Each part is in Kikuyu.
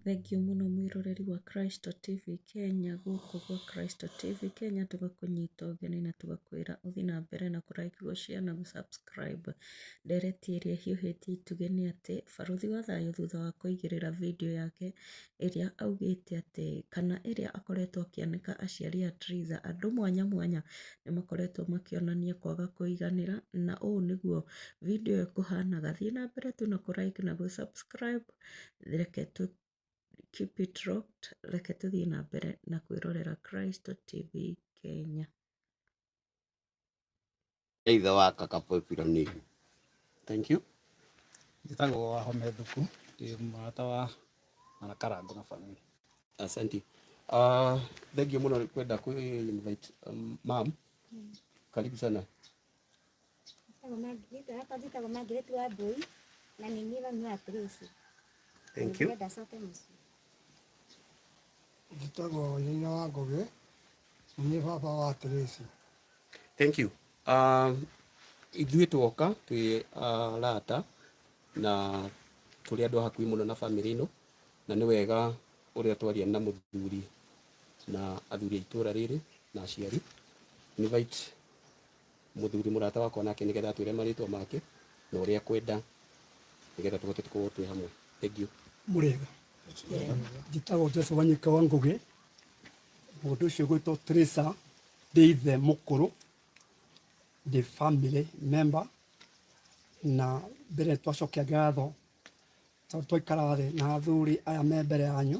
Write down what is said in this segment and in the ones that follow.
Thengiũ mũno mwĩroreri wa Kristo TV Kenya, gũkũ gwa Kristo TV Kenya tũgakũnyita ũgeni na tũgakwĩra ũthiĩ na mbere na kũ like, gũ share na gũ subscribe. Ndereti ĩrĩa ĩhiũhĩtie itugĩ nĩ atĩ, barũthi wa thayũ thutha wa kũigĩrĩra video yake ĩrĩa augĩte atĩ, kana ĩrĩa akoretwo akĩanĩka aciari a Theresa, andũ mwanya mwanya nĩ makoretwo makĩonania kwaga kũiganĩra, na ũũ nĩguo video ĩyo kũhanaga. Thiĩ na mbere tu na kũ like na gũ subscribe. reke tũ keep it locked reke tũthiĩ na mbere na kwĩrorera Kristo TV Kenya. Either wa kaka Pepiro nini. Thank you. Njĩtagwo wa home thuku ndĩ mũrata wa mwana karango na family. Asante. Uh, thank you muno kwenda ku invite um, ma'am. Karibu sana. Thank you. Njĩtagwo Nyina wa Ngũgĩ, na nĩ baba wa Tracy. Thank you. Um, ithuĩ twoka twĩ uh, rata na tũrĩ andũ a hakuhĩ mũno na bamĩrĩ ĩno na nĩ wega ũrĩa twaria na mũthuri na athuri a itũra rĩrĩ na aciari invite mũthuri mũrata wakwa nake nĩgetha atwĩre marĩtwa make na ũrĩa ekwenda nĩgetha tũhote tũkorwo twĩ hamwe thengiũ mũrĩega njĩtagwo Joseph Wanyika wa Ngũgĩ mũndũ ũcio gwĩtwo Teresa ndĩ ithe mũkũrũ ndĩ family member na mbere twacokia ngatho tondũ twaikara thĩ na athuri aya me mbere yanyu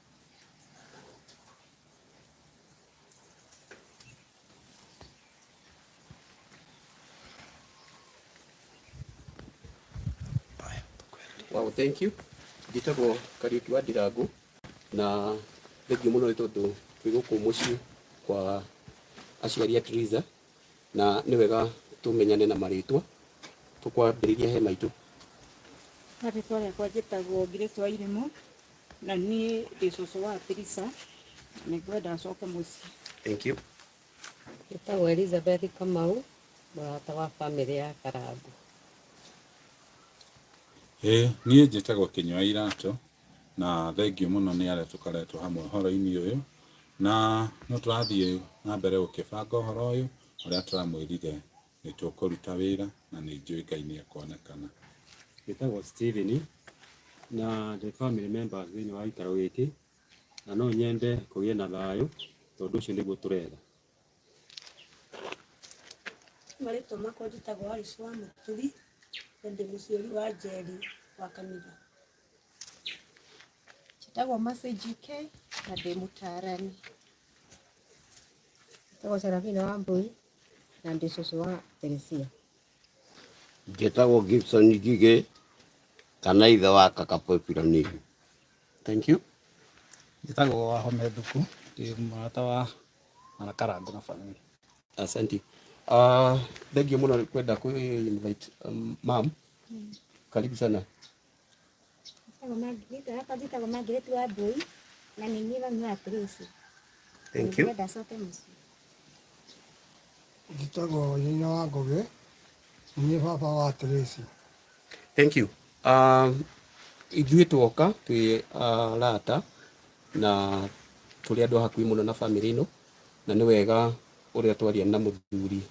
Wow, thank you. Njĩtagwo Kariuki wa Ndirangũ na thengiũ mũno nĩ tondũ twĩ gũkũ mũciĩ kwa aciari a Teresa na nĩ wega tũmenyane na marĩtwa tũkwambĩrĩria he maitũ. Marĩtwa rĩakwa njĩtagwo Grace wa Irimũ, na niä ndä cåcå wa pirisa nä ngwenda acoke må ciä Thank you. Njĩtagwo Elizabeth Kamau, mũrata wa bamĩrĩ ya Karangũ. Ĩĩ, niĩ njĩtagwo kĩnyua iratũ na thengiũ mũno nĩ arĩa tũkoretwo hamwe ũhoro-inĩ ũyũ na no tũrathiĩ na mbere gũkĩbanga ũhoro ũyũ ũrĩa tũramwĩrire nĩ tũkũruta wĩra na nĩ njũĩ Ngai nĩ ekonekana. Njĩtagwo Stephen na ndĩ family member thĩinĩ wa gĩikaro gĩkĩ na no nyende kũgĩe na thayũ tondũ ũcio nĩguo tũretha. Marĩtwa makwa njĩtagwo Alice wa Mũturi na ndĩ mũciari wa Njeri wa Kanitha. Njĩtagwo Mercy JK na ndĩ mũtaarani. Njĩtagwo Serafina Wambui Na ndĩ cũcũ wa Teresia. Njĩtagwo Gibson Ngigĩ kana ithe wa kaka Pepiro Nigu. Thank you. Njĩtagwo Wahome Thuku, ndĩ mũrata wa Mwana Karangũ na family. Asante. Uh, thank you mũno kwenda kwĩ invite um, ma'am. Karibu sana. Kajĩtagwo Margaret wa Mbũi na nĩ niĩ mami wa Tracy. Thank you. Ndĩrenda acoke mũciĩ. Njĩtagwo nyina wa Ngũgĩ, niĩ baba wa Tracy. Thank you. Um, ithuĩ tuoka twĩ uh, rata na tũrĩ andũ a hakuhĩ mũno na bamĩrĩ ĩno na nĩ wega ũrĩa twaria na mũthuri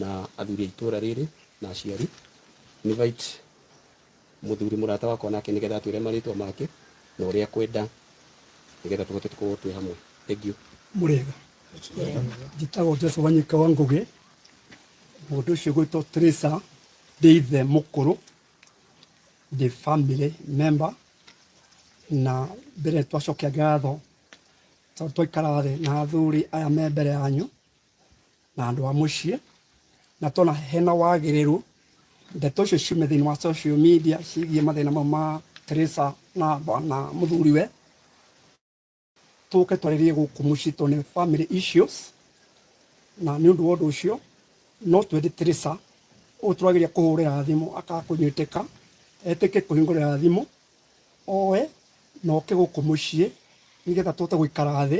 na athuri a itũra rĩrĩ na aciari invite mũthuri mũrata wakwa nake nĩgetha atwĩre marĩtwa make na ũrĩa ekwenda nĩgetha tũhote tũkorwo twĩ hamwe thengiũ mũrĩega njĩtagwo jesu wanyika wa ngũgĩ mũndũ ũcio gwĩtwo trisa ndĩ ithe mũkũrũ ndĩ family member na mbere twacokia ngatho tondũ twaikara thĩ na athuri aya me mbere yanyu na andå a må ciä na tona hena wagĩrĩru ndeto icio ciume thĩinĩ wa social media cigiĩ mathĩna mau ma Teresa na bwana mũthuriwe tũke twarĩrie gũkũ mũciĩ tondũ nĩ family issues na nĩ ũndũ wa ũndũ ũcio no twende Teresa ũyũ tũrageria kũhũrĩra thimũ akakũnyitĩka etĩke kũhingũrĩra thimũ oe na oke gũkũ mũciĩ nĩgetha tũhote gũikara thĩ